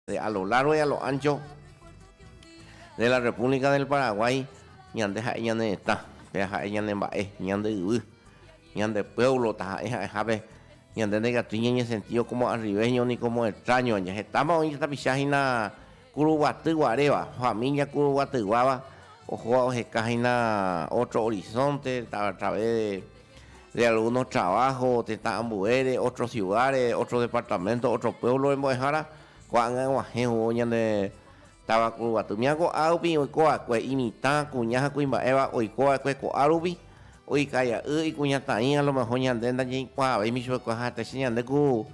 De a lo largo y a lo ancho de la República del Paraguay ñande ha'e ñane retã, péva ha'e ñane mba'e, ñande yvy, ñande pueblo taha'e ha'ehápe ñande ndaikatúi ñañe sentido como arribeño ni como extraño aña. Hetáma oĩ tapicha hína Kuruguaty guaréva, familia Kuruguatyguáva ohóva oheka hína otro horizonte a través de de algunos trabajo tetã ambuére, otros ciudades, otros departamentos, otros pueblos rembo'ehára, ko'ág̃a aguahẽ ou ñane táva Kuruguaty. Mia ko'ã rupi oiko va'ekue imitã, kuña ha kuimba'éva oiko va'ekue ko'ã rupi, oikai'a'y ikuñataĩ a lo mejor ñande ndajeikuaavéima ichupekuéra ha hetaite ñande ku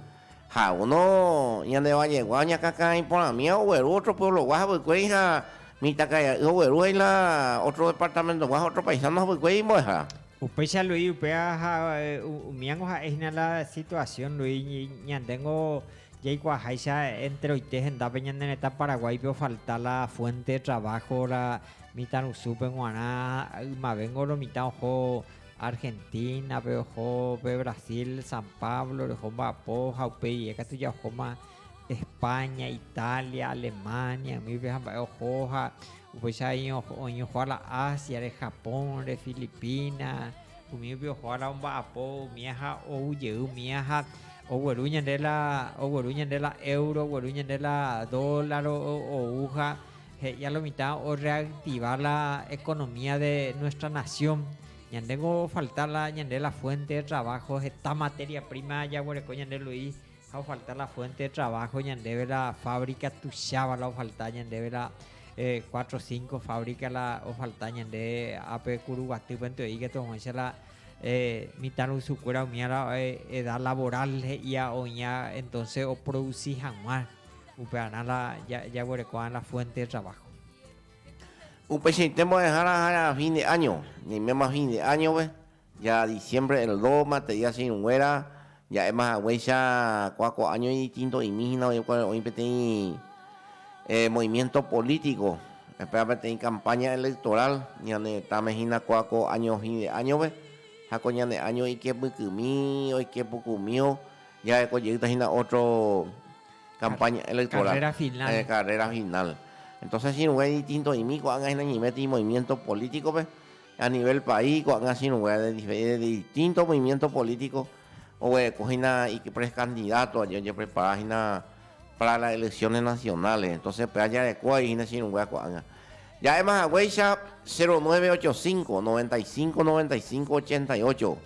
Ha uno ñande vallégua oñakãkã iporãmíva ogueru ótro pueblogua havykuéri ha mitãkaria'y ogueru ha ila ótro departamentogua ha ótro paisano havykuéri imbo'ehára. Upéicha Luis upéva ha umíango ha'e hína la situasión, Luis, ñandéngo jaikuaaháicha enteroite hendápe ñane retã Paraguáipe ofalta la fuénte de traváho la mitãrusúpe g̃uarã ha ymavéngo lo mitã oho Argentínape oho, pe Brasil, San Pablo reho mba'apo ha upéi rie katu jahóma Espáña, Itália, Alemánia umípe ha mba'e oho ha upéicha oñohua la Ásiare, Japónre, Filipina, umípe oho ára omba'apo umía ha ou jey umía ha ogueru ñande la éuro, ogueru ñande la dólar ou ha He'íja lo mitã o reactiva la economía de nuestra nación. Ñande ko ofalta la ñande la fuente de trabajo heta materia prima jaguereko ñande Luis ha ofalta la fuente de trabajo ñandéve la fábrica tuicháva la ofalta ñandéve la cuatro o cinco fábrica la ofalta ñande ápe Kuruguatýpente oĩ katu ag̃uáicha la mitãrusukuéra umíva la edad laboral he'íva oĩva entonce oproduci hag̃ua. upearã la jaguereko'arã la fuente de trabajo. Upeichaite mbo'ehára ahára fin de año, ñaiméma fin de año-pe, ya diciembre el dos materia che irũnguéra ja'éma haguéicha kua ko año idistinto'imi hína oĩkuare oĩ peteĩ movimiento político, péva peteĩ campaña electoral ñane retãme hína kua ko año fin de año-pe ha ko ñane año ikepykymi oike pukumío Jaheko jeýta hína ótro kampáña elektoral, karréra final. Entóse chirũngue distintoimi ko'ág̃a hína ñiméti movimiénto polítikope, a nivél país ko'ág̃a chirũngue de distinto movimiénto polítiko oguereko hína iprekandidáto aja ojeprepara hína pára las eleksiones nasionales, entóse pe ajareko vai hína chirũngue ko'ág̃a. Ja'éma haguéicha 0985 95 95 88.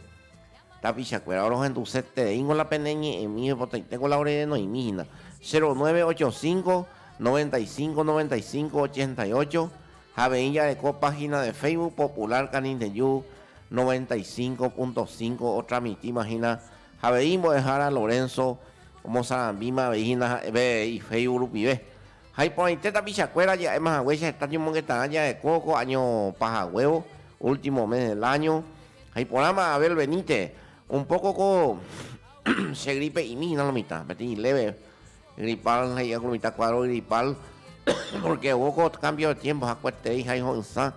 Tapichakuéra, orohendusetereíngo la pene ñe'ẽmi oipotaiteko la ore renoimi hína. 0985 95 95 88 ha avei jareko página de Facebook Popular Canindeyu 95.5 otransmitíma hína ha avei Mbo'ehára Lorenzo omosarambíma avei hína ha'e pe ifacebook rupive. Ha iporãite tapichakuéra ja'éma haguéicha heta ñomongeta'ã ja'ekóvo ko año pahaguévo, último mes del año. Ha iporãma Abel veníte, un poco ko che gripe'imi hína lo mitã, peteĩ leve gripal he'íva ko mitã cuadro gripal, porque oúko cambio de tiempo hakueteréi ha iho'ysã.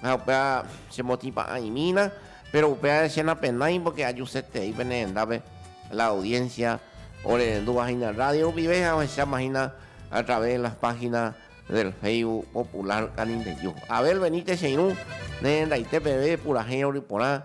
Ha upéva chemotĩpa'ãimína, péro upévare che napenái pórke ajusetei pene hendápe la audiénsia orerenduvahéina rrádio rupive ha ohechamahína atraves de las páginas del Facebook popular Canindeyú. Abel Benítez che irũ nerendaite peve purahéi rory porã.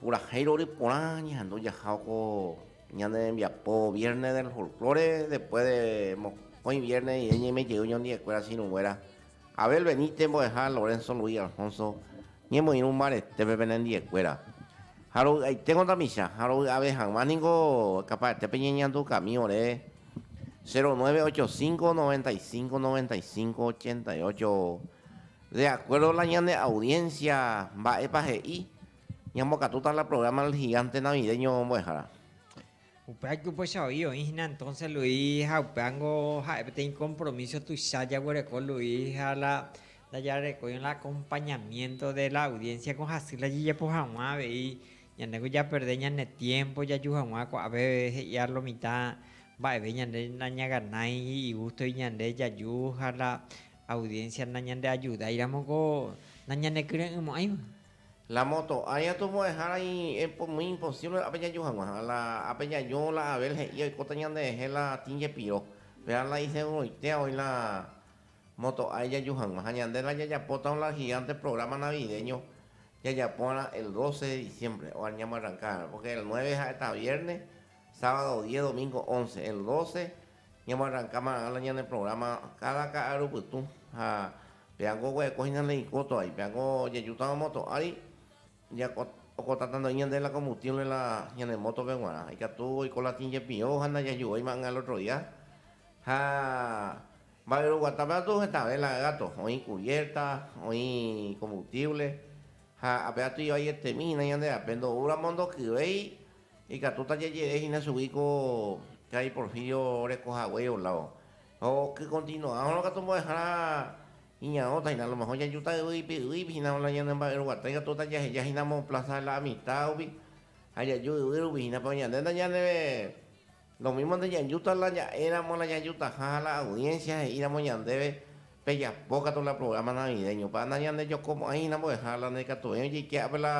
Purahéi rory porã ñehendu jaha ko ñane rembiapo Viernes del Folklore, después de mokõi viernes rire ñaime jey ñondiekuéra sirũnguéra Abel Benítez mbo'eha Lorenzo Luis Alfonso ñemoirũ mbaretépe pene ndiekuéra. Ha rovy'aiténgo tapicha ha rovy'ave hag̃ua ningo kapaetépe ñeñandu kami ore 0985 95 95 88 de acuerdo la ñane audiencia mba'épa he'i Ñambokatúta la programa El Gigante Navideño mbo'ehára. Upéva ijupochavoi oĩ hína entonce Luis ha upévango ha'e peteĩ compromiso tuicha jaguereko Luis ha la ndajarekóirõ la acompañamiento de la audiencia ko hasy la jajapo haguã avei ñandéko japerde ñane tiempo jaju haguã ko'ápe he'i a lo mitã mba'eve ñande nañaganái igustovi ñande jaju ha la audiencia nañandeajudáiramo ko nañanekyre'ỹmo'ãiva. La moto, ág̃a tomo'ẽhára iñe'ẽ muy imposible ápe jaju hag̃ua. La ápe jaju, la Abel he'i oikóta ñanderehe la tĩ jepiro. Péva la iseguroitéva oĩ la moto ág̃a jaju hag̃ua. Ha ñande la jajapóta un largigánte programa navideño jajapóva'erã el doce de diciembre óga ñamboarranka va'erã. Porque el nueve ha'éta vierne, sábado diez, domingo once. El doce Ñamoarranka marangã la ñane programa káda ka'aru pytũ ha peango oguereko hína la ikóto vai, peango jajútava moto ári jako okotata ndo'i ñande la kombustiónle la ñane mótope g̃uarã, ikatu oiko latín jepi'o ha ndajaju'ói may'ã el ótro día. Ha mba'e roguata pe atu hetave la gáto, oĩ kubiérta, oĩ kombustiónle ha ape atu ivai etémi hína ñande ape ndo'úramo ndokyvéi Ikatúta jajere hína chugui ko karai Porfirio oreko hague olávo. Ha okykontinua'ãrõ katu mbo'ehára iñarõta hína. Alomeho jajuta yvy ipi'y'ỹipi hína la ñane mba'e ruguata. Ikatúta jaheja hína Mon Plaza de la Amistad rupi ha jaju yvy rupi hína. Péro ñande ndañaneve Lo mímo ndañanjúta la ña'ẽramo la ñanjutaha ha la audiénsia he'íramo ñandéve pejapo katu la prográma navideñopa. Nañandejokomo'ãi hína mbo'eha la ndaikatuvéi ojeike'ápe la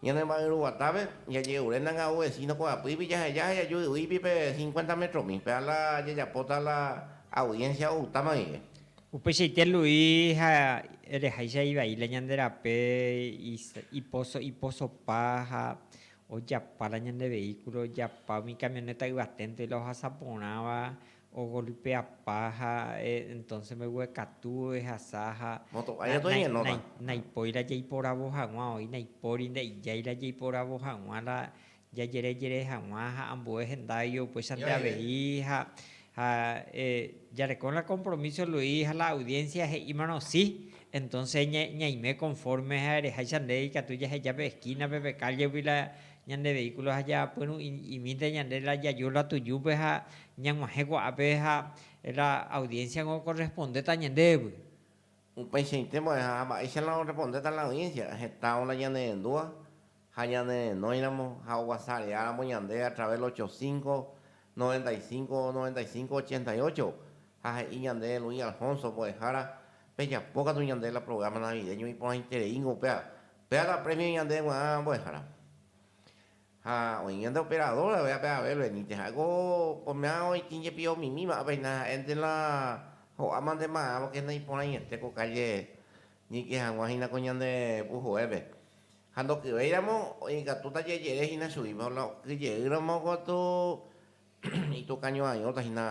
ñanemba'yruguatápe, jaje'ure nanga'u vesíno kuaapýipi jaheja ha jaju yvýipi pe cincuenta métromi. Péva la jajapóta la audiénsia outáma guive. Upeichaite Luis ha ereháicha ivai la ñande rape ipóso iposopa ha Ojapa la ñande vehículo, ojapa umi camioneta yvaténte la ohasa porãva, ogolpeapa ha entonce mbeguekatu ehasa ha naipói la jaiporavo haguã, oĩ naipóri nde'ijái la jaiporavo haguã la jajerejere haguã ha ambue henda oike upéichante avei ha Ha jarekóne la kompromíso Luis ha la audiénsia he'ímarõ si, entónse ñaime konfórme ha ereháicha nde ikatu jaheja pe eskínape, pe kállagui la ñande veíkulo ha japyrũ'i imínte ñande la jaju la tujúpe ha ñag̃uahẽ kuaápe ha la audiénsiagui okorrespondéta ñandévy. Upeichaite mbo'eha ha mba'éicha la orrepondéta la audiénsia, hetãvo la ñanenendúva ha ñanerenóiramo ha oguasareáramo ñande a través del ocho cinco, noventa y cinco, noventa y cinco, ochenta y ocho, ha he'i ñande Luis Alfonso mbo'ehára, pejapo katu ñande la programa navideño iporãitereíngo upéva, péva la premio ñande gua'ã mbo'ehára. Ha oĩ ñande operador avei ape Abel Benítez, ha'éko ko'ẽmea oĩtĩ jepi omimíva apeina ha'énte la ho'áma nde marã porque naiporãiete ko calle ñeike hag̃ua hína ko ñande puhoépe, Ha ndokyvéiramo ikatúta jejere hína chugui, por la okyjeýramo katu itukañoaióta hína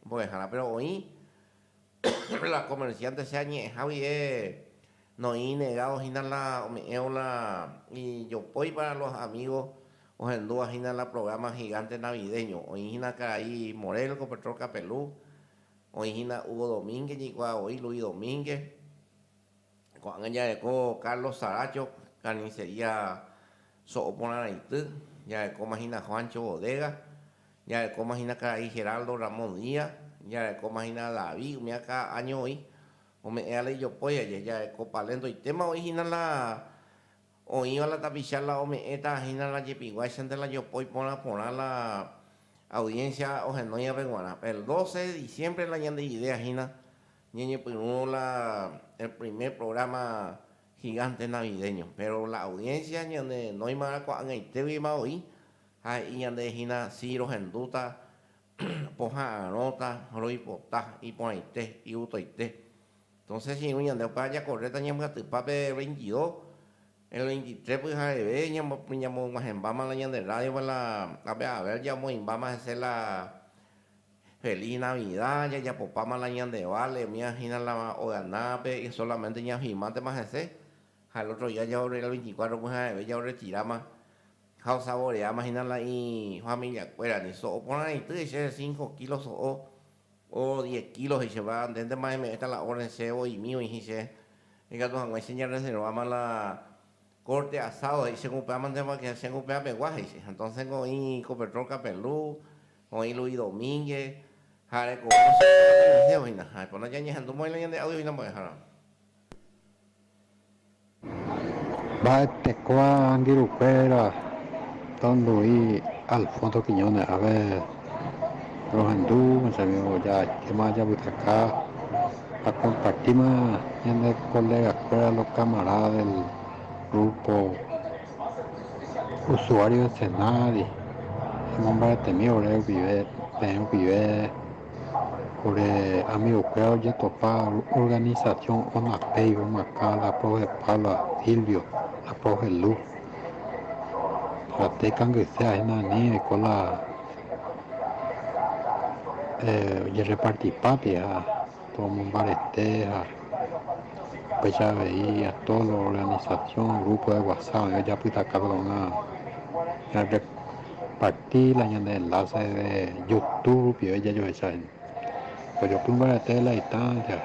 mbo'ehára. Péro oĩ la komersiánte che añe'ẽha guive noĩ inegádo hína la ome'ẽvo la ijopói pára los amígo ohendúva hína la prográma higánte navidéño. Oĩ hína karai Morel ko Petrol Kapelu, oĩ hína Hugo Domínguez ñeikuaa voi Luis Domínguez. Ko'ág̃a jareko Carlos Saracho Carnicería So'o Porã Raity, jarekóma hína Juancho Bodega, jarekóma hína karai Geraldo Ramón Díaz, jarekóma hína David umi akã año voi, ome'ẽ ala ijopói aje, jareko Palén ndoitéma voi hína la Oĩva la tapicha la ome'ẽta hína la jepiguáichante la jopói porã porã la audiencia ohenói ape guarã. El 12 de diciembre la ñande idea hína ñañepyrũ la el primer programa gigante navideño. Péro la audiencia ñanenóima arakuaág̃aitégui ma oĩ ha he'i ñande hína si rohendúta poha'arõta, roipota, iporãite, iutoite. Entonces irũ ñande opa ajakorréta ñambyatypa pe veintidó, el veintitrés pyhareve ñamog̃uahẽmbáma la ñande rrádiope la ápe avér jamoĩmbáma hese la Feliz Navida, jajapopáma la ñande vale, umíva hína la oganápe, solamente ñafirmátema hese, ha el ótro día el veinticuatro pyhareve jaorretiráma. Ha osavoreáma hína la ifamiliakuéra, ni so'o porãity he'iséva che cinco kilos so'o, o diez kilos he'iséva, ndéntema eme'ẽta la orden chévo oĩmi oĩhín che. Ikatu hag̃ua che ñareserváma la corte asado he'i chéngo upévama, ndépa que chéngo upéva pegua, he'i che. Entonces-nko oĩ Copetrol Capelú, oĩ Luis Domínguez, ha arekove che, oñeñe'ẽvo hína. Ha ipóna ñañehendu mbo'e la ñande audio hína mbo'ehára. Mba'etekua angirukuéra tondu'i Alfonso Quiñónez ápe rohendu jajajéma japytaka jakompartíma ñane kolegakuéra lokamarada del grúpo usuário de Senari emomba'etemívo ore peẽ rupive. Ore amigokuéra ojetopa organisasiõ Onapei, omakã la profe Paula, Silvio, la profe Lu. Ratéi kangyse ahina ani oiko la ojerreparti pápe ha omombarete ha upéicha avei a tódo lo organisasiõ, grúpo de whasap oĩ ojapytaka pegua una. parti la ñane enlace de youtube rupive jajohecha hína. Ojopy mbarete de la distancia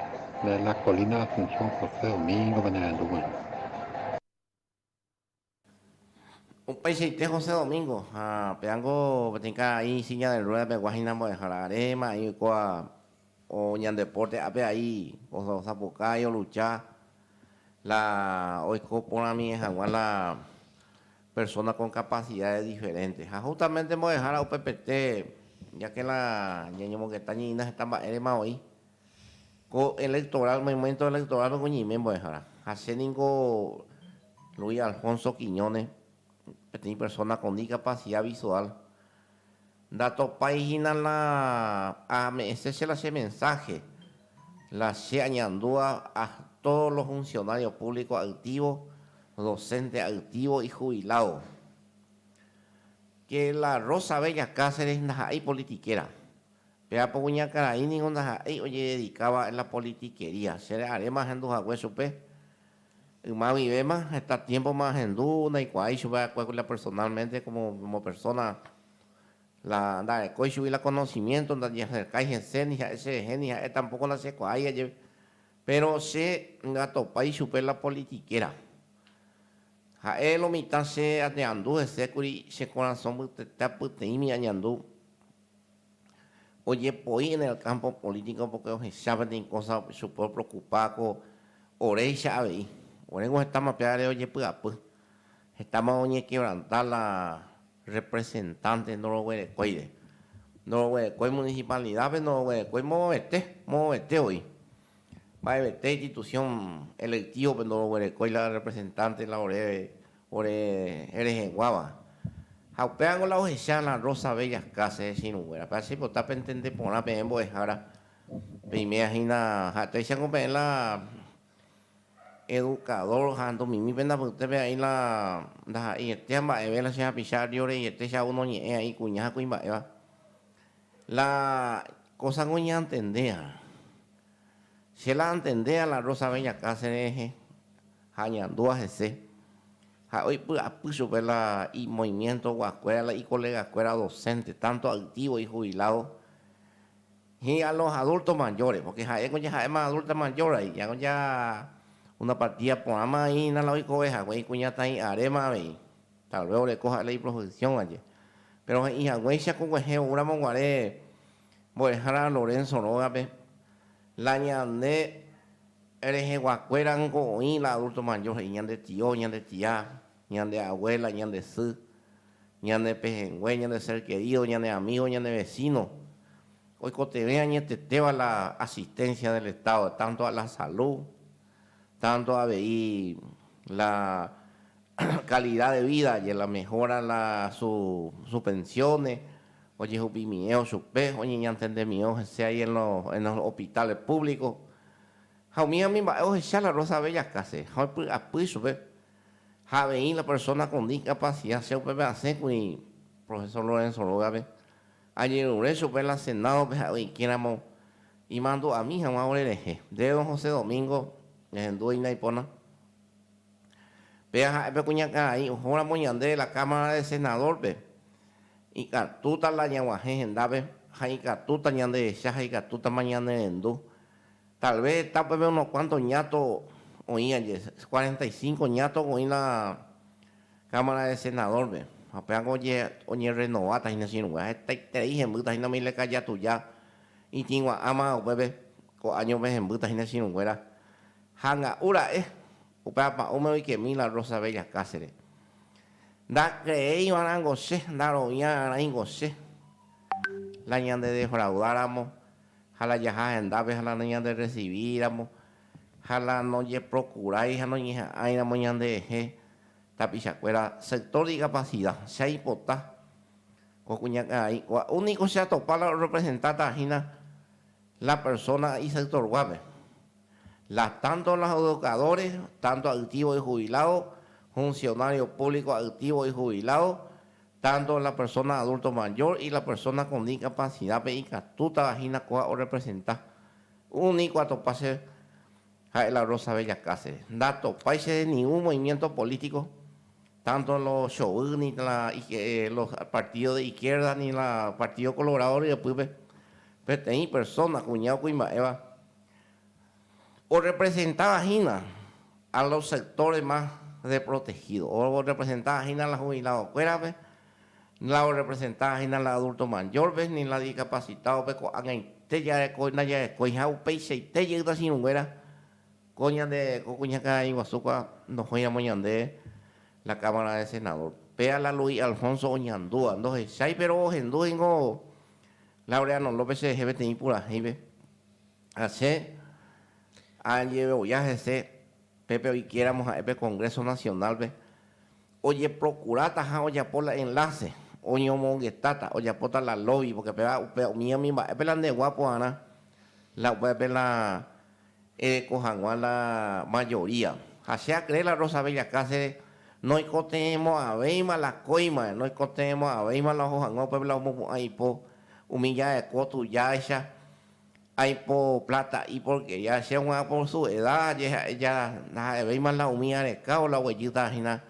de la colina Asunción José Domingo pe nerendu g̃uarã. Upeichaite José Domingo ha peángo peteĩ karai silla de rueda pegua hína mbo'ehára aréma, a'ĩ oikóva o ñandeporte ápe aĩ osapukái olucha la oiko porãmie hag̃ua la persona kon kapasidades diferentes ha justamente mbo'ehára upepete jake la ñañomongeta ñe'ĩna heta mba'érema oĩ ko electoral momento electoral niko ñeime mbo'ehára ha che niko Luis Alfonso Quiñones peteĩ persona kon dikapasidad visual Ndatopái hína la ame'ẽse che la che mensáhe, la che añandúa a tódo lo funsionário púvliko ayktívo, dosénte ayktívo, ijubiládo. Ke la Rosa Bella Cáceres ndaha'éi politikera. Pe apo kuñakarai ningo ndaha'éi ojededikáva en la politikería. Che re'aréma ahendu hague chupe, Yma guivéma, heta tiémpoma ahendu ndaikuaa ichupe va'ekue la personálmente kómo persóna, la ndarekói chugui la konosimiénto, ndajeaserkái hese ni ha'e cherehe ni ha'e tampóko ndachekuaái ajeve. Péro che ndatopái ichupe la politikéra. Ha'e lo mitã che añeandu hese kuri che korasõ pytetea pyteĩmi añandu. ojepoi en el campo político porque ohecha peteĩ cosa chupe opreocupa ko oréicha avei. Oreko hetáma upévare ojepy'apy, hetáma oñequebranta la representante ndoroguerekóire. Ndoroguerekói municipalidad-pe, ndoroguerekói moõvete, moõvete voi. Mba'evete institución electivo-pe ndoroguerekói la representante la ore Ore rehẽguáva. Ha upévango la ohecha la Rosa Bella Cáceres hechirũnguérape. Achepota pentende porã peẽ mbo'ehára, peimea hína ha'etéichango peẽ la educador ha ndomimi penda pyte pea'i la ndaha'eietía mba'eve la che hapicha arrio reiete che ao noñe'ẽ a'i kuña ha kuimba'éva. La kósango ñantendéva. Che la antendéa la Rosa Beñakãse rehe ha añandúa hese. Ha'e oipy'apy chupe la imoimientoguakuéra la ikolegakuéra docente, tanto aitĩvo ijubilado y a los adultos mayores, porque ha'éko jaha'éma adulta mayor ahí, ya ya una partida porãma ahí hína la oikove hague ikuñataĩ aréma avei, tal vez oreko ha'e la iprofesión aje. Pero he'i haguéicha koguehe oúramo guare Mbo'ehára Lorenzo rógape, la ñande reheguakuérango oĩ la adulto mayor he'i ñande tio, ñande tia, ñande abuela, ñande sy, ñane pehẽngue, ñande ser querido, ñane amigo, ñane vecino. Oikotevẽ añetetéva la asistencia del Estado, tanto a la salud, tanto avei la calidad de vida aje la mejora la su su pensiones ojehupimíeo chupe oñeñantendemíeo hese ahí en lo en los hospitales públicos ha umi umi mba'e ohecha la Rosa Bella casi ha opy'apy chupe ha avei la persona con discapacidad che upépe asẽ kuri profesor Lorenzo rógape añerure chupe la Senado pe ha'e oike ramo imandu'ami hag̃ua ore rehe nde don José Domingo ehendúvo inaipóna. Péa ha'e pe kuñakarai ohóramo ñande la Cámara de Senador-pe, ikatúta la ñaguahẽ hendápe ha ikatúta ñandehecha ha ikatútama ñanerendu. Tal vez heta upépe unos cuantos ñato oĩ aje, cuarenta y cinco ñato oĩ la Cámara de Senador-pe, ha péako oñerrenováta hína che irũngue, ha hetaiterei hembýta hína umi lekajatuja itĩgua'ãma upépe, ko áñope hembýta hína che irũnguéra. Hanga'u ra'e, upe apa'ũme oikemi la Rosa Bella Cáceres. Ndakreéiva rango che, ndaroviã rãingo che la ñande defraudáramo ha la jaha hendápe ha la ñande rresivíiramo ha la nojeprokurái ha noñeha'ãiramo ñanderehe tapichakuéra sector dicapacida. Che aipota ko kuñakarai kua'u niko che atopa la orrepresentáta hína la persona isectorguápe. Las tanto las educadores, tanto a'ytĩvo ijubilado, funcionario público a'ytĩvo ijubilado, tanto la persona adulto mayor y la persona con dicapacidad-pe ikatútava hína kóva orrepresenta. Uni ko atopa che ha'e la Rosa Bella Cáceres. Ndatopái che de ningún movimiento político, tanto lo chovy, ni la los partidos de izquierda, ni la Partido Colorado ryepýpe. Peteĩ persona kuña okuimba'éva. Orrepresentava hína a los sectores más desprotegidos, orrepresentava hína la jubiladokuérape, la orrepresentava hína la adulto mayorpe, ni la discapacitadope ko'ag̃aite jarekói ndajarekói ha upeichaite jey nachirukuéra ko ñande ko kuñakarai-guasúgua ndohóiramo ñande la Cámara de Senador. Péa la Luis Alfonso oñandúva, ndohechái péro ohendúvo ningo Laureano López cherehe peteĩ purahéipe, Ha che añeve oja hese pépe oikéramo ha'e pe Congreso Nacional-pe, ojeprocurátaha ojapo la enlace, oñomongetáta, ojapóta la lobby, porque péva upe umíami mba'épe la ndeguapo'arã, la upépe la ereko hag̃ua la mayoría. Ha che akree la Rosa Bella Cáceres noikotevẽmo'ãvéima la kóima, noikotevẽmo'ãvéima la oho hag̃ua upépe la omopu'ã ipo. Umi ja'eko tujáicha, aipo plata'i porkería, che g̃uarã por su eda jeha'e ja ndaha'evéima la umi arekávo la oguejýta hína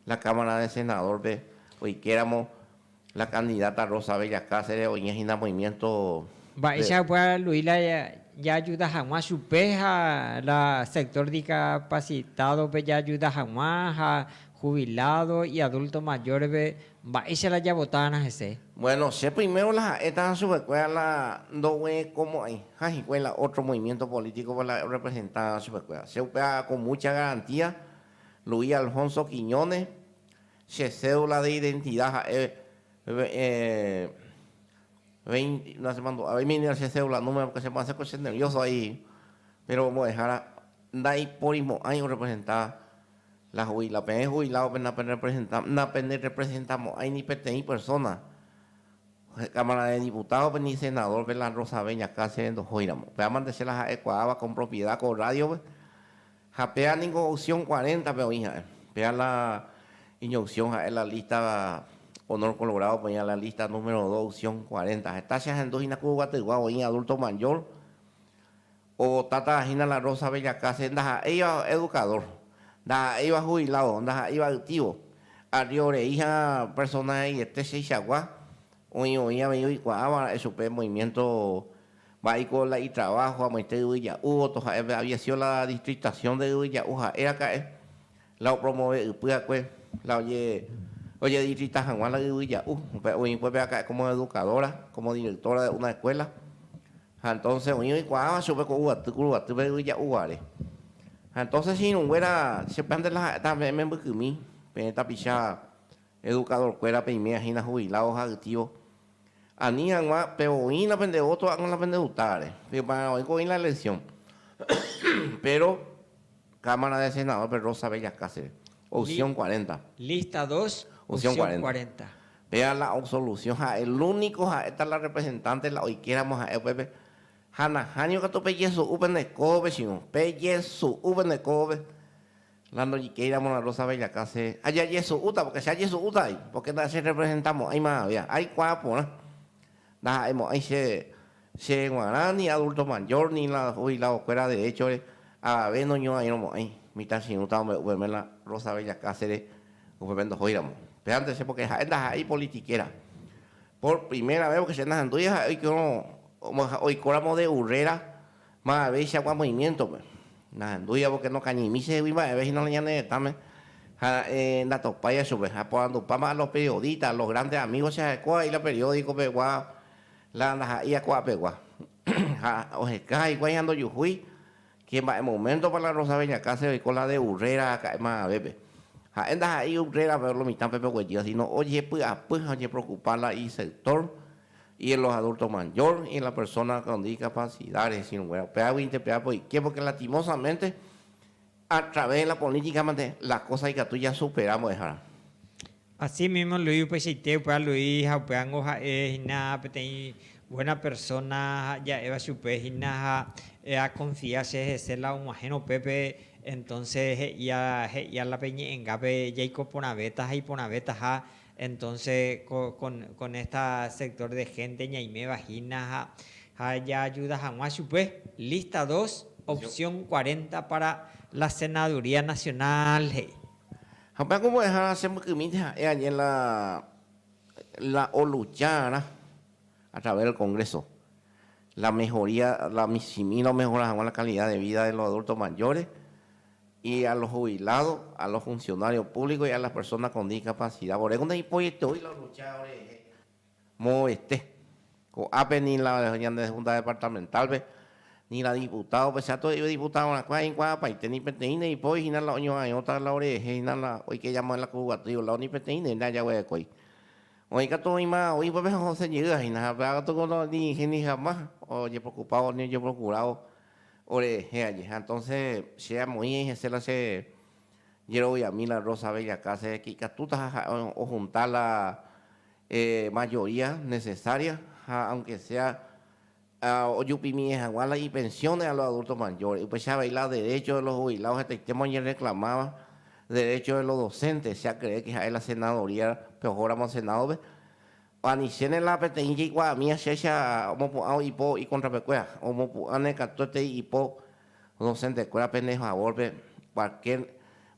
la Cámara de Senador-pe oikeramo la candidata Rosa Bella Cáceres oñe hína movimiento de Mba'éichapa pueda Luis la jaajuda hag̃ua chupe ha la sector discapacitado-pe jaajuda hag̃ua ha jubilado y adulto mayor-pe Mba'éicha la javotána hese? Bueno, che primero la ha'étava chupekuéra la ndoguerekomo'ãiha hikuái la otro movimiento político-pe la representáramo chupekuéra. Che upéva con mucha garantía Luis Alfonso Quiñones, che cédula de identidad ha'e veinte, no achemandu'a, oimíniko che cédula número, porque chemo'ã che ko che nervioso vai, pero omo'ẽhára ndaiporimo'ãi orepresenta. La jubila, peẽ jubiládope naperrepresenta, napenderrepresentamo'ãi ni peteĩ persóna, Cámara de Diputádope ni senadórpe la rosave ñakã chéve ndohóiramo. Péva mante che la ha'ekuaáva con propiedad ko rrádiope, ha péva ningo opción cuaréntape oĩ ha'e. Péva la iñopsión ha'e la lista Honor Colorádope oĩva la lista número dos, opción cuarenta. Heta che ahendu hína ku yvataygua oĩ adulto mayor, Ovotáta hína la Rosa Bellacase ndaha'éiva edukadór, ndaha'éiva huviládo, ndaha'éiva ytívo. Arrio rei ha'ã persóna ha'eiete cheichagua oĩ oĩ avei oikuaáva ra'e chupe movimiénto mba'éiko la itraváho amoite Yvy Ja'u voto ha'e pe Aviasiõ la Districtasiõ de Yvy Ja'u ha'éraka'e La opromove ypy'akue, la oje, ojedisfrita hag̃ua la yvy ja'u. Upe oĩ ipo pe aka'e como educadora, como directora de una escuela. Ha entonces oĩ oikuaáva chupe ko yvaty kuruguatýpe yvy ja'u guare. Ha entonces che irũnguéra, che péante la ha'éta peẽ membykymi, peẽ tapicha, Edukadorkuérape iména hína hubiládo ha ytívo, ani hag̃ua pe oĩ la pende ótro ág̃a la pende utáre, pepararõguáiko oĩ la elesión. Péro Kámara de Senadórpe Rosa Bella Cáceres, opsión cuarenta. Lísta dos, opsión cuarenta. Péva la absolusión ha elúniko ha'éta la rrepresentánte la oikéramo ha'e upépe, ha nahánio katu pejesu'u pende kóvope chiru, pejesu'u pende kóvope. La ndojikéiramo la Rosa vejaka se ajajesu'úta pórke che ajesu'úta vai, pórke ndacherrepresentamo'ãima avea. Aikuaa porã. Ndaha'emo'ãi che che g̃uarã ni adulto mayor ni la jubiladokuéra deréchore avave noñuãirõmo'ãi. Mitãchirũta ombe'u peve la Rosa vejaka sére upépe ndohóiramo. Pévante che pórke ha'e ndaha'éi ipolitikera. Por primera ves pórke che nahendúi ha'e oikorõ oikóramo de urréra Ma avei che agua movimiento-pe. Nahendúiavo que nokañymi chehegui mba'eve hína la ñane retãme. Ha ra'e ndatopáiva chupe. Ha aporandupáma a los periodistas, a los grandes amigos che ja'ekóva vai la periódico pegua, la ndaha'éi a ko'a pegua. Ha oheka hikuái ha ndojuhúi que mba'e momento-pa la Rosa Bellacases oiko la de Urrera aka'e mavavépe. Ha'e ndaha'éi Urrera-pe lo mitã-pe pe oguejýva, sino ojepy'apy ha ojepreocupa la isector, Asímimo Luis upeichaite upéva Luis ha upévango ha'e hína peteĩ buéna persóna ha ja'éva chupe hína ha akonfia che hese la og̃uahẽrõ upépe, entónse he'íla pe ñe'ẽngápe jaiko porãvéta ha iporãvétaha Entonce ko con esta sector de gente ñaiméva hína ha jaajuda hag̃ua chupe. Lista dos, opción cuarenta para la senaduría nacional, he'i. Ha upéva ku mbo'ehára chembykymínte ha'e añe la la oluchárã a través del Congreso la mejoría la michĩmi la omejora hag̃ua la calidad de vida de los adultos mayores. Y a los jubilados, a los funcionarios públicos y a las personas con discapacidad, voréko ndaipoieteói la lucha orehe mo'ovete. Ko'ápe ni la ñande Junta Departamental-pe, ni la diputado-pe, che ato'e'ỹiva diputadorãkuéra ha'ekuaa apaite ni peteĩ neipói hína la oño'ãirõta la orehe hína la oike yma la kuruguatýiva o lado ni peteĩ ndéve ndajaguerekói. Oĩ katu oĩma ou ípape ha osẽ jeyýva hína ha péva katu ko los dirigentes ni jamás ojepreocupado ni ojeprocurado Ore hẽ aje. Ha entonce che amoĩ aĩ hese la che jeroviami la Rosa Bella Case que ikatutaha ha'e o junta la mayoría necesaria ha aunque sea ojupimi'e haguã la i pensiones a los adultos mayores. Upecha avei la derecho de los jubilados hetaitéma oñe reclamaba, derecho de los docentes, che akeré que ha'e la senadoría pe ojo ramo Senado pe. Ani chéne la peteĩ jaikuaami achécha omopu'ã oipo ikontrapekuéra, omopu'ãne katuetei ipo docentekuéra pende favórpe cualquier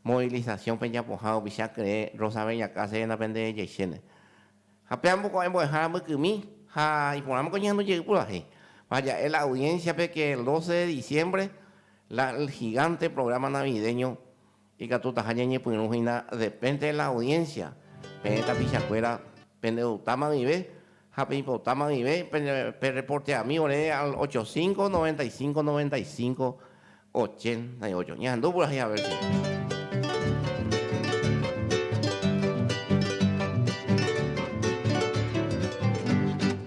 movilización pejapoha ovicha kyrẽ Rosa Bella Cáceresna pende jeichéne. Ha pe ambokuaái mbo'ehára mbykymi ha iporãmako ñehendu jey purahéi. Vaja'e la audiencia-pe que el doce de diciembre la El Gigante programa navideño Ikatutaha ñañepyrũ hína depende de la audiencia. Peẽ tapichakuéra pendevutáma guive ha peipotáma guive perreporteami ore al ocho cinco, noventa y cinco, noventa y cinco, ochenta y ocho. Ñahendu purahéi a ver si.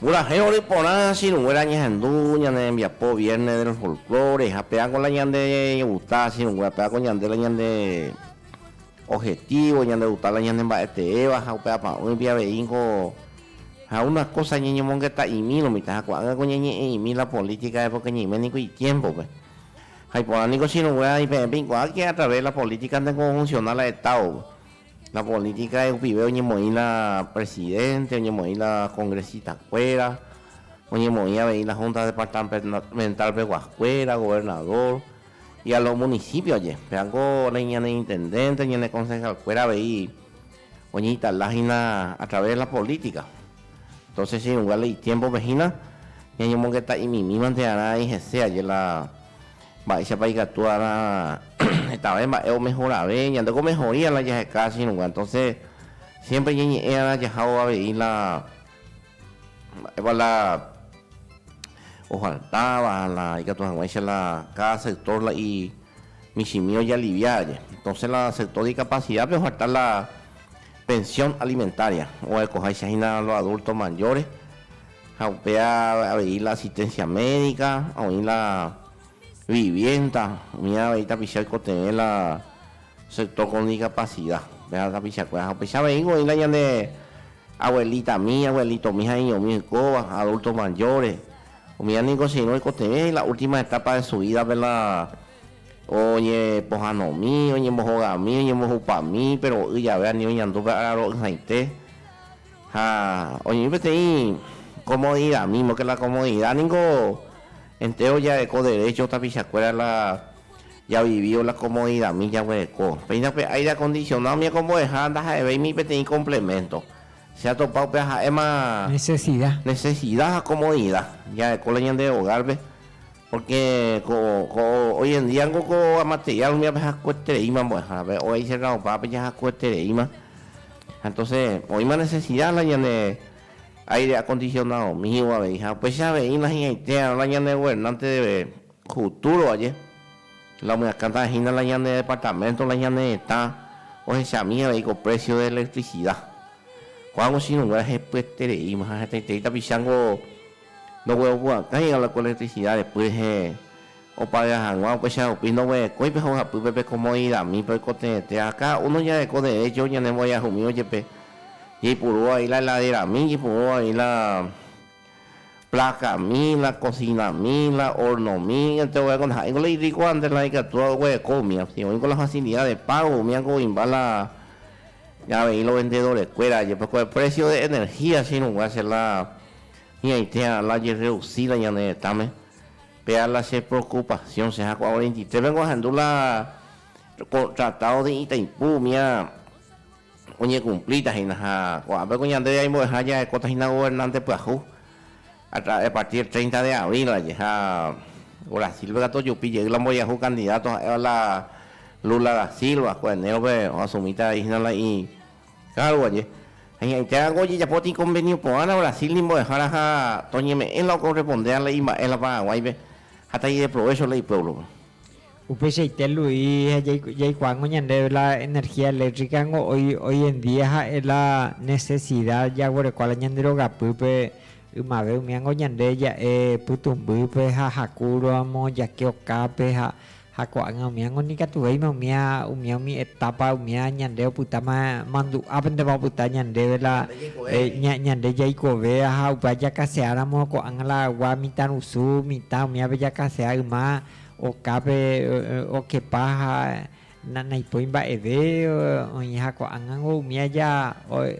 Purahéi ore porã sirũnguéra ñehendu ñane rembiapo Viernes del Folklore ha péako la ñande guta sirũnguéra, péako ñande la ñande objetivo, ñande guta la ñande mba'eteéva ha upe apa'ỹipe avei niko Ha una kósa ñañomongeta'imírõ mitãha ko'ág̃a ko ñañe'ẽ'imi la polítika époka ñaime niko itiémpope. Ha iporã niko chiruguéra ipeẽ peikuaáke através la polítika ndéngo ofunsiona la Etádope. La polítika rupive oñemoĩ la presidente, oñemoĩ la kongresitakuéra, oñemoĩ avei la húnta departamental peguakuéra, governadór, y a lo munisípioje. Pévako la iñaneintendénte, ñanekonsehalkuéra avei. oñeinstala hína a través de la política, entonces ichirũnga la itiémpope hína ñañomongeta imimívante arã ai hese aje la mba'éichapa ikatu arã hetave mba'e omehorave, ñande ko mejoría la jaheka ichirũnga, entonces siempre ñañe'ẽ arã jajávo avei la mba'épa la ofaltáva, la ikatu hag̃uáicha la cada sector la i michĩmi ojalivia aje. Entonces la aceptó discapacidad pe oharta la pensión alimentaria, oguerekoháicha hína los adultos mayores ha upéva avei la asistencia médica, oĩ la vivienda, oĩva avei tapicha oikotevẽ la sector con discapacidad, upéva tapichakuéra ha upeicha aveíngo oĩ la ñane abuelitami, abuelitomi ha iñomi oikóva, adultos mayores. Umi ani consideró oikotevẽ en la última etapa de su vida pe la oñepohanomi, oñembohogami, oñembohupami, péro oĩ jave ani oñandu pe araro'ỹhaite ha oñe'ẽ peteĩ comodidad mísmo, que la comodidad ningo entéro jareko derecho tapichakuéra la javivívo la comodidadmi jaguereko. Péina pe aire acondicionado oñekombo'eha ndaha'evéima ni peteĩ complemento. Che atopa upéva ha'éma nesesida ha komodida jareko la ñande ogárpe, pórke ko hoyendía niko ko materiál umi ape hakuetereíma mbo'ehárape, óicha la opa ápe jahakuetereíma. Ha entóse oĩma nesesida la ñane áire akondisionadomíva avei ha upéicha avei nahí'aitéarõ la ñane governánte. Futuro aje, la omyakãta hína la ñane departamento la ñane retã ohechami avei ko precio de electricidad. Kóa ko chiruguéra hepyetereíma ha hetaiterei tapicha niko ndogueropu'akãiga la ko electricidad repy rehe opaveva hag̃ua upéicha rupi ndoguerekói pe hojapýpe pe comodidadmípe oikotevẽte ha cada uno jareko derecho ñanembo'eahumívo jepe jaipurúva avei la heladera mi jaipurúva avei la Plákami, la kosinami, la ornomi, enteroviákuri ha'éngo la irrikuánte, la ikatúva oguereko umi asi, oĩko la fasilida de págo umi áko oĩmba la avei lovendedorekuéra jepe ko eprécio de energia che irũnguáva che la ñaite a la jerreusida ñane retãme, péva la che preokupasiõ che ha kuarentitrépe ahendu la tratado de Itaipú umi a oñekumplíta hína ha ko'ápe ko ñandéve aimbo'eha jarekóta hína governánte pyahu a partir treinta de abril ndaje ha Brasilpe katu ojupi jey la mbojahu candidato ha'éva la Lula da Silva ko enero-pe oasumítavai hína la cargo ndaje ha ñaĩtéva ko ojejapo ticonvenio porãta Brasil nimbo'ehára ha toñeme'ẽ la okorrespondéva la imba'e la Paraguáipe ha taideprovécho la ipuévlope. Upeichaite Luis ha jaikuaángo ñande la energía eléctrica ngo hoy en día ha'e la necesida jaguerekua la ñande rogapýpe ymave umíango ñande ja'e pytũmbýpe ha haku ramo jake okápe ha ko'ág̃a umíango nikatuvéima umía umía umi etapa umía ñande opytáma mandu'ápentema opyta ñandéve la ñande jaikove ha upéva jakase'áramo ko'ág̃a la gua mitãrusu mitã umíape jakasea yma Okápe okepa ha naipói mba'eve oĩha ko'ág̃ango umi aja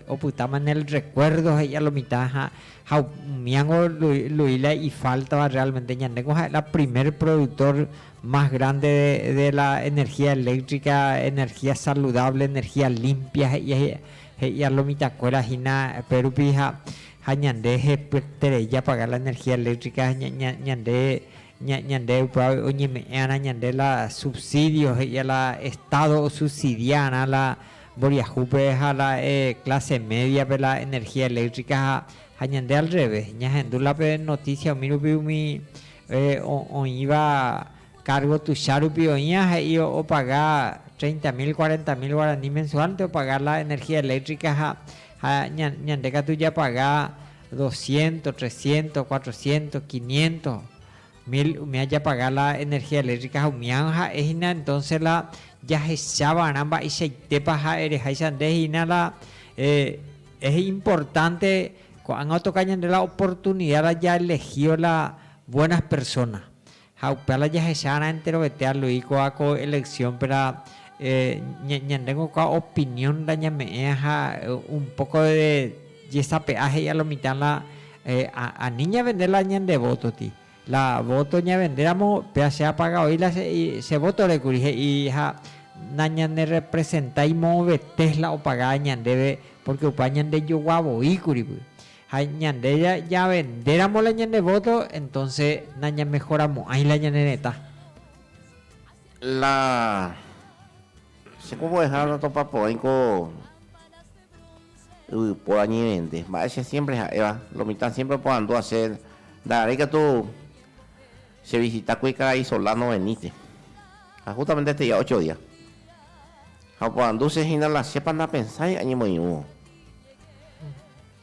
opytáma en el recuerdo he'íva lo mitã ha umíango Luíla ifáltava realmente. Ñandéko ha'éla primer productor más grande de la energía eléctrica, energía saludable, energía limpia he'íva lo mitãkuéra hína pe rupi ha ñande hepyeterei japaga la energía eléctrica ñande Ñande ypy'águi oñeme'ẽ'arã ñande la subsidio, he'í'a la Estado osubsidia'arã la mboriahúpe ha la clase media-pe la energía eléctrica ha ha ñande al revés. Ñahendu la pe noticia umi rupi umi oĩva cargo tuicha rupi oĩva he'i opaga treinta mil, cuarenta mil guarani mensual-nte opaga la energía eléctrica ha ha ñande katu japaga doscientos, trescientos, cuatrocientos, quinientos mil umi ajapaga la energía eléctrica ha umi ág̃a ha'e hína entonce la jahecha va'erã mba'eichaitépa ha'e reháicha nde hína la es importante ko'ág̃a otoka ñande la oportunidad la ja elegío la buenas personas Ha upéva la jahecharã enterovete alui kóva ko elección-péra, ñandéngo kóva opinión la ñame'ẽa ha un poco de jesape'a he'i a lo mitã la ani ñavende la ñande voto-ti. La voto ñavendéramo, péva che apaga voi la che voto-re kuri he'i ha nañanerepresentái moõvete la opaga ñandéve porque upéva ñandejogua voi kuri. Ha ñande javendéramo la ñande vóto, entónse nañamehoramo'ãi la ñane retã. La che ko mbo'eha natopaporãi ko yvypóra ñevende. Mba'e che siémpre ha'éva, lo mitã siémpre oporandúva che, ndakarei katu chevisita kuri karai Solá noveníte. Ha hústamente teja ocho día. Ha oporandu che hína la chépa napensái añemoirũvo.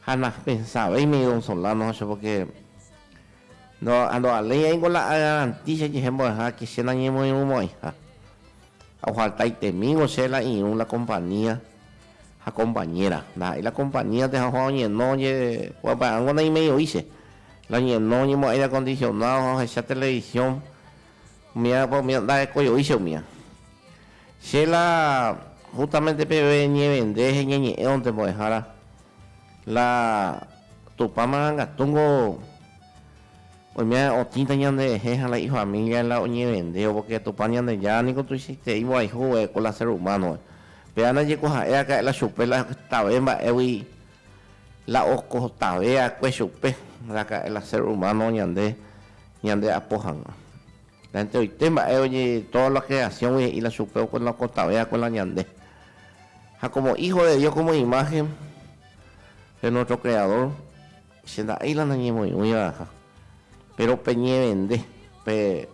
Ha napensavéima ikonsolándo che pórke ndovaléi aiko la agarantícha jehe mbo'ehára ke che nañemoirũmo'ãiha. Ha ohaltaitemíngo che la irũ la kompañía ha kompañéra. Ndaha'éi la kompañía tejajoa oñeno ojeguapya'ángo naimei'oi che. La oñeno oñemo'ãi aire akondisionádo ha ohecha televisión. Umía pa umía ndarekojoy che umía. Che la justamente peve ñevende heñeñe'ẽvonte mbo'ehára, la Tupã marangatúngo oime otĩta ñanderehe ha la ifamília la oñevendévo, pórke Tupã Ñandejára niko tuichaiterei mborayhu va'ekue la sér humánogui. Péva ndajekuaaha'eraka'e la chupe la tave mba'égui. La okotave va'ekue chupe, raka'e la ser humano ñande ñande apo hag̃ua. La enteroite mba'e oje toda la creación gui he'i la chupe oke la okotave va'ekue la ñande. Ha como hijo de Dios como imagen de nuestro creador, che nda'éi la nañemoĩgui va'eha. Péro peñevende, pe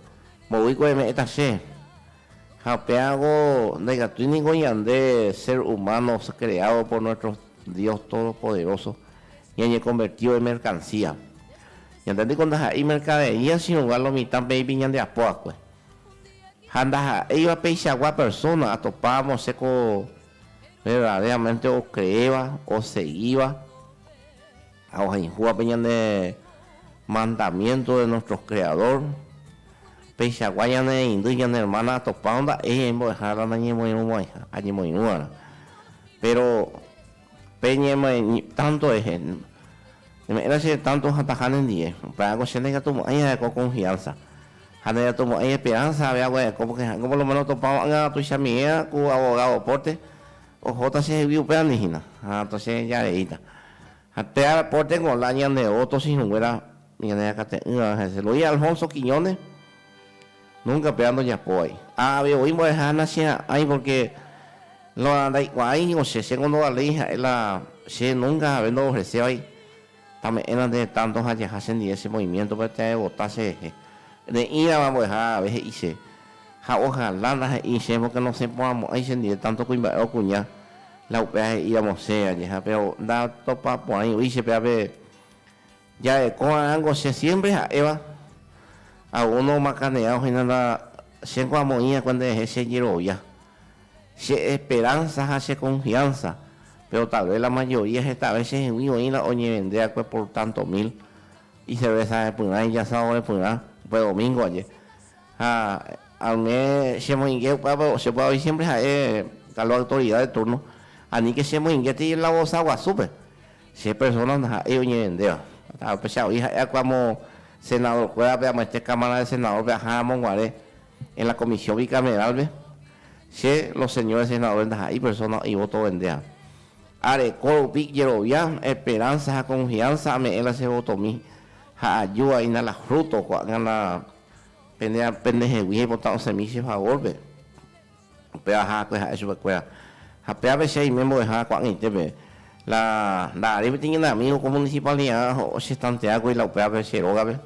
mboýko eme'ẽta che. Ha upéago ndaikatúi ningo ñande sér umáno kreádo por nuéstro Dios todopoderóso ñañekonvertívo imerkansía. Ñande ningo ndaha'éi merkadería chirũnga lo mitã peẽpi ñande apo va'ekue. Ha ndaha'éiva peichagua persóna atopávo che ko verdadéramente okreéva, osegíva Ha ohayhúva pe ñane mandamiénto de nuestro Creador, peichagua ñanereindy ñane ermána atopa o nda'e ñaimbo'ehára nañemoirũvaiha, añemoirũva'erã. Péro pe ñemoĩ tánto rehe, neme'ẽta che retánto hatãha nendive, upéva'ekue che ndaiñatumo'ãi arekóva konfiánsa, ha ndaiñatumo'ãi esperánsa avei aguerekóva, porke ha'éngo por lo méno otopava'erã tuichamive'arã ku avogádo pórte, Ohóta che hegui upérandi hína, ha toche jareíta. Ha pe ára pórte Golán ñande o tosi hũnguéra ñane akate'ỹva hese, lo oĩ Alfonso Quiñones, Nunca péva ndojapóvai. Ha avei oĩ mbo'eha nacheha'ãi pórke lo ndaikuaái ningo che, chéngo ndovaléi ha'e la che nunca jave ndoofresévai. Tame'ẽna nde tánto ha jaha chendive che movimiéntope teaevota cherehe. Reĩrava mbo'eha agave he'i che, ha ohala ndahe'i che pórke nosẽporãmo'ãi chendive tánto kuimba'e okuña. La upéva he'íramo che añeha, péro ndatopaporãivoi che péva pe jarekórarãngo che siémpre ha'éva. Algúno omakane'ẽva oho'ína nda chéngo amoĩ akue nderehe che jerovia. Che esperanza ha che confianza, pero tal vez la mayoría hetave che hegui oĩla oñevende akue por tanto mil y cerveza repyrã y asado repyrã upe domingo aje. Ha ame che moinge upévape che py'aguy siempre ha'e tal vez autoridad de turno, anike che moinge tei la vosa guasúpe che persona ndaha'éi oñevendéva. Upechagui ha'e akue amo senador kuérape amoete cámara de senador pe aja ramo guare. En la Comisión Bicameral-pe, che los señores senadores ndaha'éi persona oĩ voto vendéva. Areko rupi jerovia, esperanza ha confianza ame'ẽ la che votomi ha ajuvaína la fruto ko'ág̃ana pene pendehegui aipota osẽmi che favor-pe. Upéva haakue ha'e chupekuéra. Ha péape che aime mbo'ehára ko'ag̃aitépe. La ndaha'arei peteĩ ñane amigo ko municipalidad ochestanteákuri la upévape che rógape.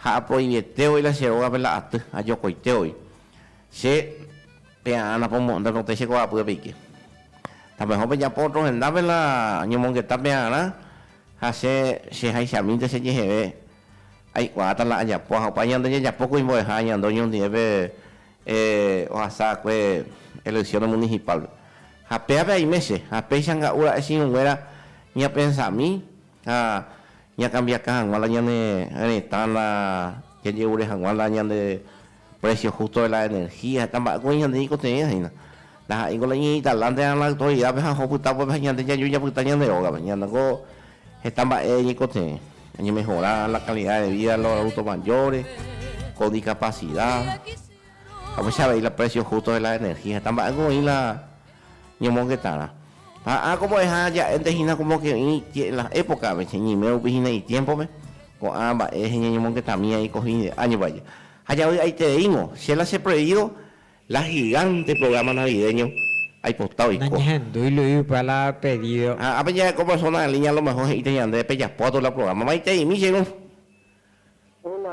Ha apoiete voi la che rógape la aty, ha jokoite voi. Che pea'ã napomo'ãnte rotẽ che ko'ápy apeike. Tapeho pejapo otro hendápe la ñomongeta pea'arã, ha che, che haichamínte che jeheve, aikuaáta la ajapo. Ha opa ñande jajapo ko imbo'eha añande oñondive pe ohasa akue elecciones municipal-pe. Ha péape aime che, ha péicha nga'u ra'e chiũnguéra ñapensami, Ha ñakambiaka hag̃ua la ñane retã, la jaje'ure hag̃ua la ñande precio justo de la energía, heta mba'e ko oĩ ñande ñaikotevẽva hína. Taha'e niko la iñe'ẽ italante rã la autoridad-pe ha oho pyta upépe ha ñande jaju japyta ñande rógape. Ñande niko heta mba'e ñaikotevẽ, oñemejora la calidad de vida de los adultos mayores, con discapacidad, ha upéicha avei la precio justo de la energía. Heta mba'e ko oĩ la. Ñemongetárã. Ha ág̃a ombo'eha ja'énte hína como que oĩ que en las épocape, cheñeime rupi hína itiémpope, ko'ã mba'e heñeñemongetamíva eiko hi'ide, año vaje. Ha javy'aitereíngo, che la che prohibido la gigante programa navideño aipota oiko. Nañehendúi Luispa la pedido. Ha ápe jaheko persona en línea a lo mejor he'íta ñande pejapóta la programa. Maitei, michirũ. Hola.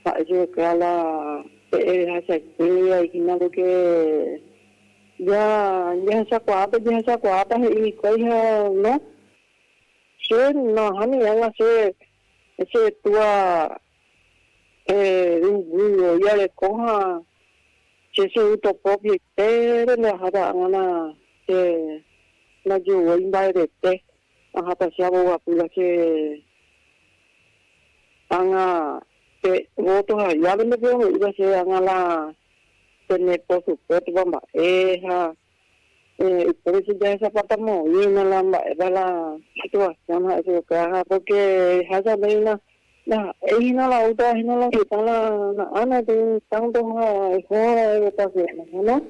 Mba'e cheheka la pe'e rehachaite aikína porque ya jahechakuaa pe jehechakuaáta he'i hikuái ha no. Che nahániri ág̃a che che túa yvýgui oiareko ha che che y topropiaite nde aháta ág̃ana che najeuvoi mba'evete. Aháta che abogadura che ág̃a pe voto ha llave nde pe'ome'ýva che ág̃a la pene posupótva mba'e ha upépe che jahechapatamóína la mba'épa la situasión ha'e chupe kuéra ha pórke ehecha nde hína La he'i hína la Uta hína la heta la na'ána pe tánto ha eho ra'eve tasyóme. Héna,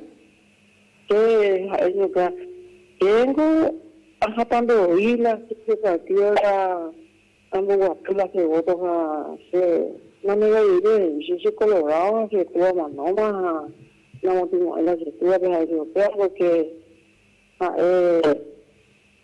che ha'e ñuka, che niko ahapa nde oĩ la che partido la amboguapy la che voto ha che nanegaiveive he'i che che colorado ha che túa manóma ha namotĩmo'ãi la che túape ha'e che upéva porque ha'e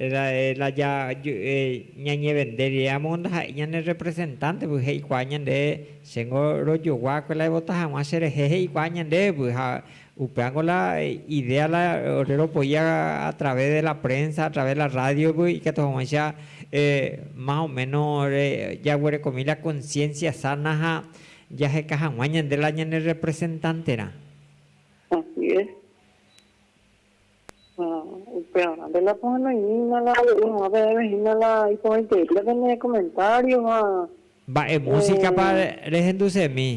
La ja ñañevende rire amo ndaha'éi ñane representante py he'ikuaa ñande chéngo rojogua kue la evota haguã cherehe he'ikuaa ñande py ha upéango la idea la ore ropoí a través de la prensa a través la radio py ikatu haguãicha más o menos jaguerekomi la conciencia sana ha jaheka haguã ñande la ñane representante rã. Así es. Ha upévare, nde la pohenoimína la aje'e hag̃ua peẽme hína la iporãitereíta pene komentário ha. Mba'e músikapa rehendusemi?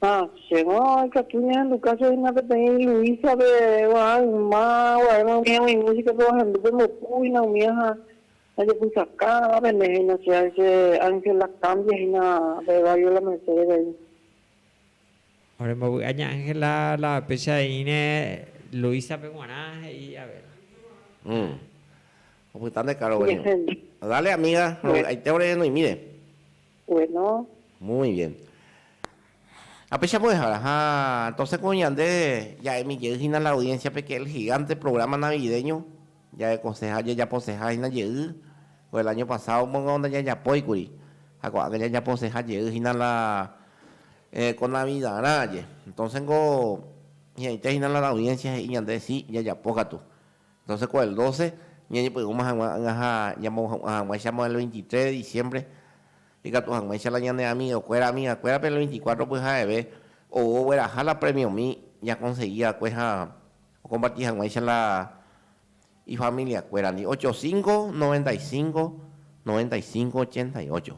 Ha chéngo ikatu ñahendu káso hína peteĩ Luísape guarã yma guaréma umi ag̃ui músikape oahendu pembopu hína umíva ha ajepysaka pene hína che Ángela Cambia hína pe Barrio La Merced rei. Orembovy'a ña Ángela la péicha he'íne Luísape g̃uarã, he'i Abela. Umm. Opyta nde káro gueño. Dale amiga, rovy'aite ore noĩmíre. Bueno. Muy bien. Ha péicha mbo'ehára. Ha entonces ko ñande ja'emi jey hína la audiencia-pe que El Gigante programa navideño. Jaekoseha ha jajaposeha hína jey, ko el año pasado mongo ndajajapói kuri, ha ko'ág̃a jajaposeha jey hína la ko Navidarã aje. Entonces niko hi'ãite hína la audiencia he'i ñande si jajapo katu. Entonces ko el doce ñañepy'ũma hag̃ua ág̃a ha ñamohu'ã hag̃uáichamo el veintitrés de diciembre ikatu hag̃uáicha la ñane amigo kuéra, amiga kuérape el veinticuatro pyha'eve ou ogueraha la premiomi jakonsegi va'ekue ha Okomparti hag̃uáicha la ifamiliakuérandi, ocho cinco, noventa y cinco, noventa y cinco, ochenta y ocho.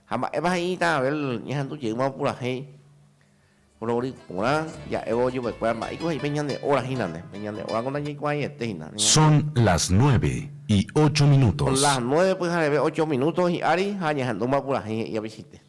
Ha mba'épa he'i Tã Abel ñahendu jeýma opurahéi rory porã ja'évo chupekuéra mba'éiko he'i pe ñane óra hína nde, pe ñane óra ko ndajaikuaaiete hína. Son las nueve y ocho Son minutos. las nueve pyhareve ocho minuto hi'ári ha ñahendúma purahéi he'i apichaite.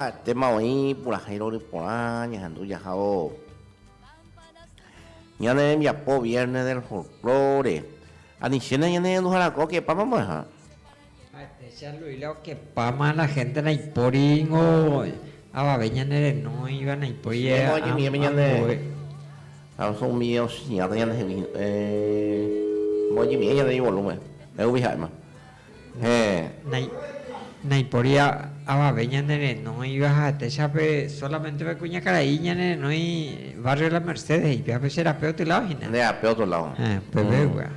Ha'etéma oĩ purahéi rory porã ñahendu jahávo ñane rembiapo Viernes del Folklore. Anichéne ñanehenduharakua okepáma mbo'eha. Ha'etéicha Luíla okepáma la hénte naipóri ningo avave ñanerenóiva, naipóri ambue. Ha oho umi osĩhápe ñandehegui, mboñimi'ẽ ñande ivolúmen, he'úgui ha'éma, Héẽ. Naipóri avave ñanerenóiva ha'etéichape, sólamente pe kuñakarai ñanerenói Barrio La Merced he'ípe, ha pe che rape otro lado hína. Nde rape otro lado. Héẽ, pevégua.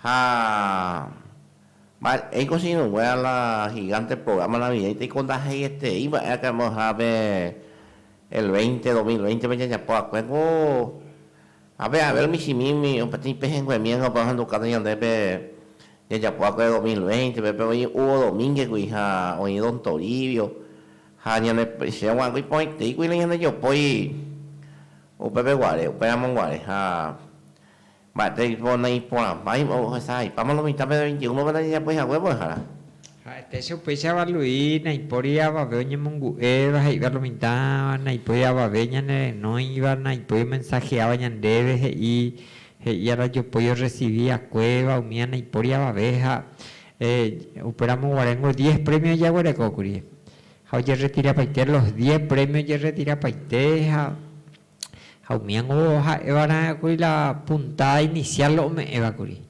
Ha mba'éiko che irũngue a la gigante programa navideño, teiko ndahegetei mba'e akãme oha pe El veinte, dos mil veinte-pe jajapo va'ekue ku ápe Abel michĩmi umi peteĩ pehẽnguemi ág̃a opa ohendukánte ñandépe jajapo va'ekue dos mil veinte-pe, pe voi Hugo Domínguez-gui ha oĩ Don Toribio, ha ñane, che gua'ãgui porãitei kuirai ñande jopói upépe guare, upéramo guare ha Mba'éreteiko naiporãmbáima ohesahaipáma lo mitã pende veinte y uno pende rejapo'i hague mbo'ehára? Ha'etéicha upéicharava Luis, Naipóri avave oñemongu'éva he'iva lo mitã, naipóri avave ñanerenóiva, naipói omensaheáva ñandéve he'i, he'i arajopói orresivi akuéva, umíva naipóri avave ha eh, upéramo guaréngo diez prémio ojaguerekókuri. Ha ojerretirapaite los diez prémio ojerretirapaite ha. Ha umíango ha'évara'e kuri la punta inicial ome'ẽva kuri.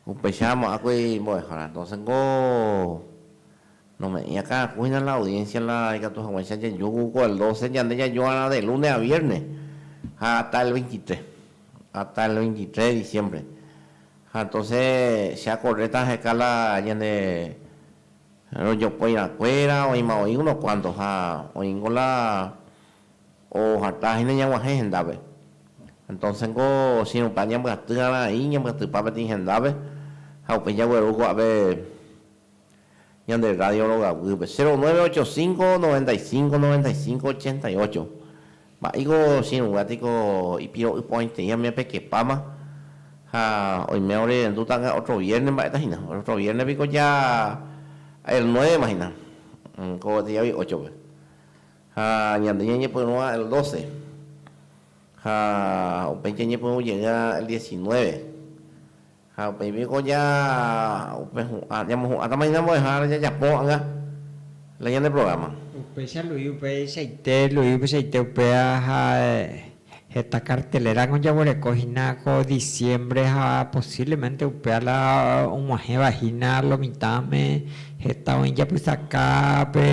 Upéicha mo'ãkuri mbo'ehára. Entonces nko nome'ẽ akãraku hína la audiencia la ikatu hag̃uáicha jajoy ko el doce ñande jajoarã de lunes a viernes ha hasta el veintitrés, hasta el veintitrés de diciembre. Ha entonces che acorréta aheka la ñane rojopoirãkuéra, oĩma oĩ unos cuantos ha oĩ nko la Ohatã hína ñaguahẽ hendápe. Entonce niko chirupa ñambyatýrarã aĩ ñambyatypa peteĩ hendápe ha upéi jagueru ko'ápe ñande radio rogaguýpe. Cero nueve ocho cinco, noventa y cinco, noventa y cinco, ochenta y ocho. Mba'éiko chiruga tiko ipiro'y porãiteĩ umi ape kepáma ha oime orerenduta otro vierne mba'éta hína. Otro vierne piko ya el nueve ma hína. Ko gueteri avei óchope. Ha ñande ñañepyrũa el doce, ha upéi jañepyrũ jey'a el diecinueve, ha upéi piko ja upe hu'ã, ñamohu'ãtama hína mbo'ehára jajapo ha'anga la ñane programa. Upéicha Luis upeichaite, Luis upeichaite upéva ha Heta kartelerag̃a ojavoreko hína ko diciembre ha posiblemente upéva la og̃uahẽva hína lo mitãme. Heta oĩ japysaka pe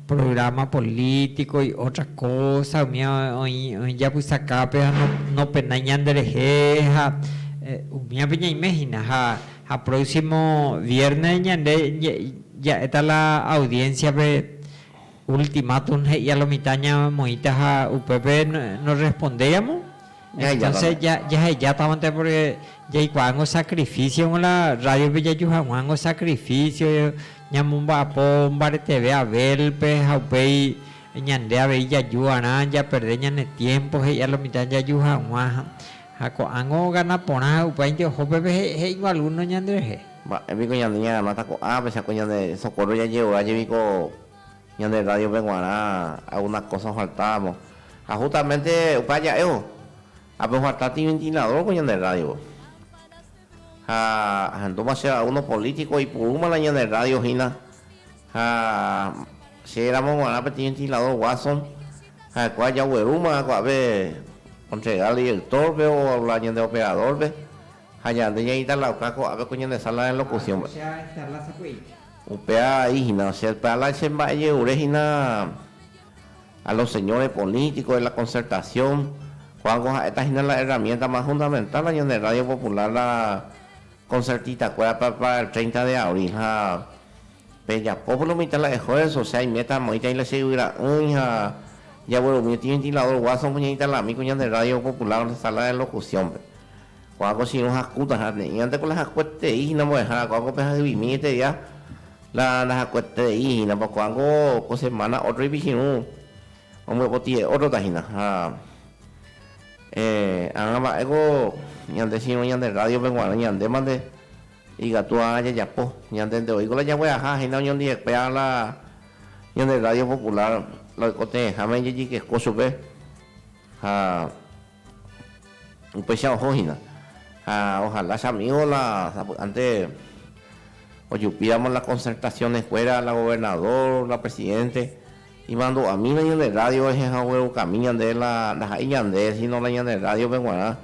programa político y otra cosa, umi oĩ japysaka pe ha nopenái ñanderehe ha umívape ñaime hína. Ha próximo viernes ñande ja'éta la audiencia-pe Ultimátum he'íva lo mitã ñamoĩta ha upépe norrespondéiramo, entónse jahejátavante pórke jaikuaángo sakrifísiongo la rrádiope jaju hag̃uángo sakrifísio, ñamomba'apo mbareteve Abélpe ha upéi ñande avei jaju va'erã japerde ñane tiémpo he'íva lo mitã jaju hag̃ua. Ha ko'ág̃o ogana porã ha upéinte oho pépe he'íngo algúno ñanderehe. Mba'e piko ñande ñaganáta ko'ápe, chakue ñande sokóro jajerovia jeviko Ñande rrádiope g̃uarã algúna kósa ofaltávo, ha hustamente upe aja'évo. Ha peofalta tiventiladórko ñande rrádiope. Ha ahendúma chéve algúno polítiko oipurúma la ñande rrádio hína, ha chéramo g̃uarã pe tiventiladór Watson, ha'ekuéra jaguerúma ko'ápe ontregárõ idiektórpe o la ñande operadórpe, Ha ñande ñaintalauka ko'ápe ko ñane sala de locución-pe. Upéva vai hína che Talent che mba'e ñe'ũre hína a los señores políticos de la concertación, ko'ág̃o ha'éta hína la herramienta más fundamental la ñane radio popular la concertista-kuérape para el treinta de abril. Ha pejapo pórno mitã la esfuerzo, osea iméta amoĩtaĩ la che yvyra'ỹi ha jaguerumi otiventilador Watson-pe ñaintalami ko ñande radio popular sala de locución-pe. Ko'ã kochirũ hakúta ha ne'ĩvante ko la hakueterei hína mbo'ehára, ko'ã ko pe hahyvimi eteria la ndahakueterei hína, pa ko'ã ko ko semana ótro ipichirũ ombyepotire ótrota hína. Ha agã mba'e ko ñande chirũ ñande rrádiope g̃uarã ñandémante ikatu agã jajapo. Ñandénte oíko la jagueraha hína oñondivetéva la ñande rrádio popular la oikotevẽháme jajykeko chupe ha Upéicha oho hína. Ha ojalá che amigo la sapy'ánte ojupíramo la concertacioneskuéra, la gobernador, la presidente, imandu'amína ñande radio rehe ha oguerukami ñande la ndaha'éi ñande, síno la ñande rádiope g̃uarã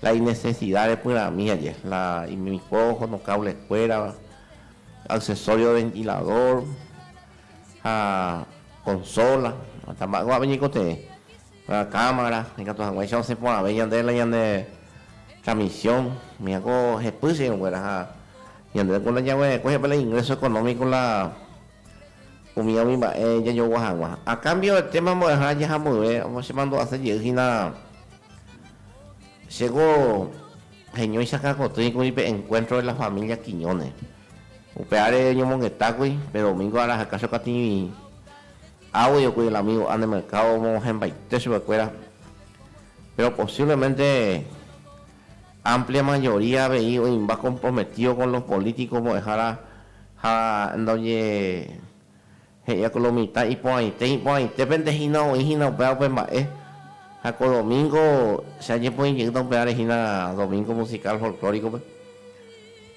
la inesesida repyrãmi aje, la imikpo ohono kableskuéra, aksesorio de ventilador ha konsóla, hasta mba'égua'u ñaikotevẽ. La cámara ikatu hag̃uáicha osẽ porãve ñande la ñane transmisión, michã ko hepy che irũnguéra ha ñande ku ndañaguerekói ape la ingreso económico la umía umi mba'e jajogua hag̃ua. A cambio de tema mbo'ehára jaha mboyve chemandu'ase jey hína che ko heñóicha kakotỹi kuri pe encuentro de la familia Quiñones. Upe áre oñomongetákuri pe domingo araha Cacho Katiñuĩ. Audio kuri el amigo a ne mercado omog̃uahẽmbaite chupekuéra pero posiblemente amplia mayoría avei oĩmba comprometido con los políticos mbo'ehára ha ndoje he'ia con lo mitad iporãite iporãitépente hína oĩ hína upéva upe mba'e ha ko domingo che añepoĩjeýta upévare hína domingo musical folclórico-pe.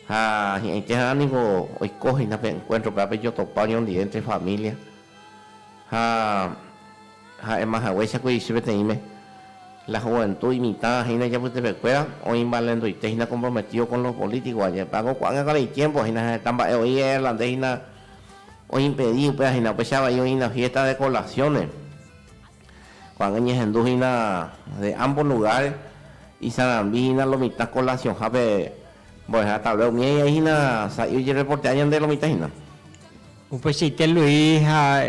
Ha hi'ãiteha niko oiko hína pe encuentro-pe ápe jotopa oñondive entre familia, ha ha'éma haguéicha kuirichi peteĩme la juventud imitã hína ijapytepekuéra oĩmbalenduite hína comprometido con los políticos añe'ẽpe ág̃a oikuaág̃a ko rei tiempo hína heta mba'e oĩ irlandés hína oimpedi upéva hína upéicha vai oĩna fiesta de colaciones Ko'ág̃a ñahendu hína de ámbo lugár, isarambi hína lo mitã kolasionha pe mbo'eha tavle umi aĩ ai hína sa'i ojerreportea ñande lo mitã hína. Upeichaite Luis ha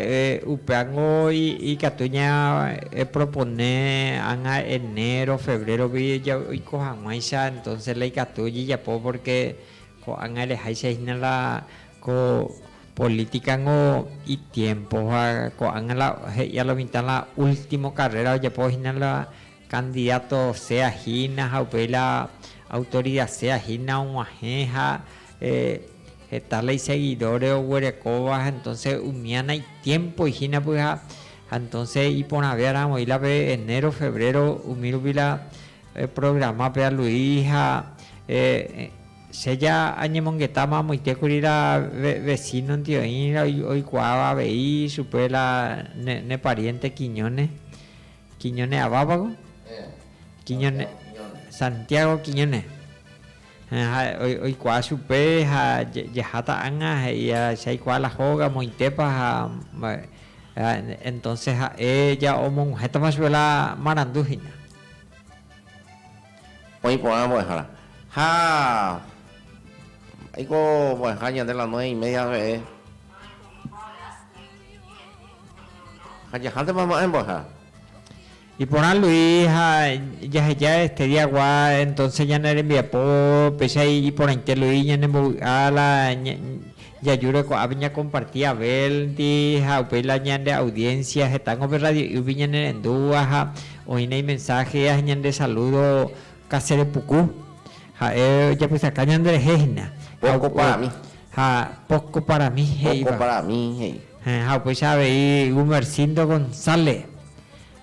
upévango ikatu ñaepropone ág̃a enero, febrérope oiko hag̃uáicha, entónse la ikatu ojejapo pórke ko'ág̃a reháicha hína la ko Política nko itiempo ha ko'ág̃a la he'i a lo mitã la último carrera ojapo hína la candidato sea hína ha upéi la autoridad sea hína og̃uahẽ ha heta la iseguidores oguerekóva ha entonce umíana itiempo hína py'a ha entonce iporãve arãvoĩ la pe enero, febrero umi rupi la programa pe aluí ha Che ja añemongetáma amoite kuri la vesínondi oĩrã oikuaáva avei chupe la ne pariénte Quiñone, Quiñone avápako? Quiñone, Santiago Quiñone. Ha oikuaa chupe ha jaháta ág̃a he'íva che aikuaa la hóga amoitépa ha entónse ha'e ja omog̃uhẽtama chupe la marandu hína. Oĩ porã mbo'ehára. Ha mba'éiko mbo'eha ñande la nueve y media rehe. Ha jahántema ma'ẽ mbo'ehára. Iporã Luis ha jaheja este día gua entonces ñane rembiapo péicha iporãite Luis ñanembovy'a la Jajúre ko'ã pe ñakomparti Abelndi ha upéi la ñande audiénsia hetángo pe radio'ýgui ñanerendúva ha oĩne imensáhe ha ñande salúdo kaserepuku. Ha'e ojapysaka ñanderehe hína. Póko para mí. Ha póko para mí he'íva. Póko para mí he'i. Héẽ, ha upéicha avei Gumersindo González,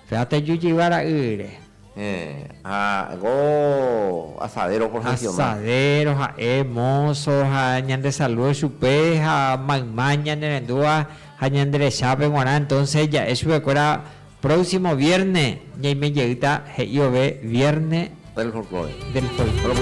pe atajujeyva ra'ýre. Héẽ, ha ko asadero profesional. Asadero ha'e, mozo, ha ñande saludo chupe, ha mayma ñanerendúva ha ñanderechápe g̃uarã, entonces ja'e chupekuéra próximo vierne ñaime jeýta he'i vove vierne del folklore. Del folklore.